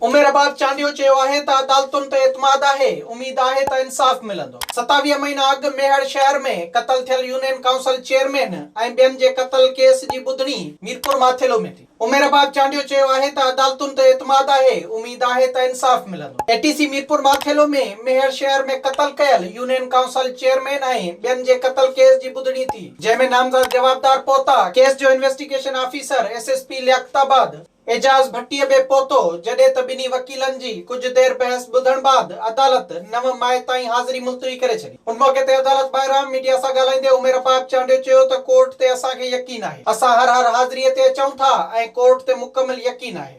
عمير رباب چانڊيو چيو آهي ته عدالتن تي اعتماد آهي، اميد آهي ته انصاف ملندو. ستاويهه مهينا اڳ ميهڙ شهر ۾ قتل ٿيل يونين ڪائونسل چيئرمين ۽ ٻين جي قتل ڪيس جي ٻڌڻي ميرپور ماٿيلو ۾ ٿي. عمير رباب چانڊيو چيو آهي ته عدالتن تي اعتماد آهي، اميد آهي ته انصاف ملندو. اي ٽي سي ميرپور ماٿيلو ۾ ميهڙ شهر ۾ قتل ڪيل يونين ڪائونسل چيئرمين ۽ ٻين جي قتل ڪيس جي ٻڌڻي ٿي. جنهن ۾ نامزد جوابدار پهتا، ڪيس جو investigation officer S S P Liaquatabad Ijaz Bhatti به پهتو، جڏهن ته ٻنهي وڪيلن جي ڪجهه دير بحث ٻڌڻ بعد عدالت نو مئي تائين حاضري ملتوي ڪري ڇڏي. ان موقعي تي عدالت ٻاهران ميڊيا سان ڳالهائيندي عمير فاهد چانڊيو چيو ته ڪورٽ تي اسان کي يقين آهي، اسان هر هر حاضري تي اچون ٿا ۽ ڪورٽ تي مڪمل يقين آهي.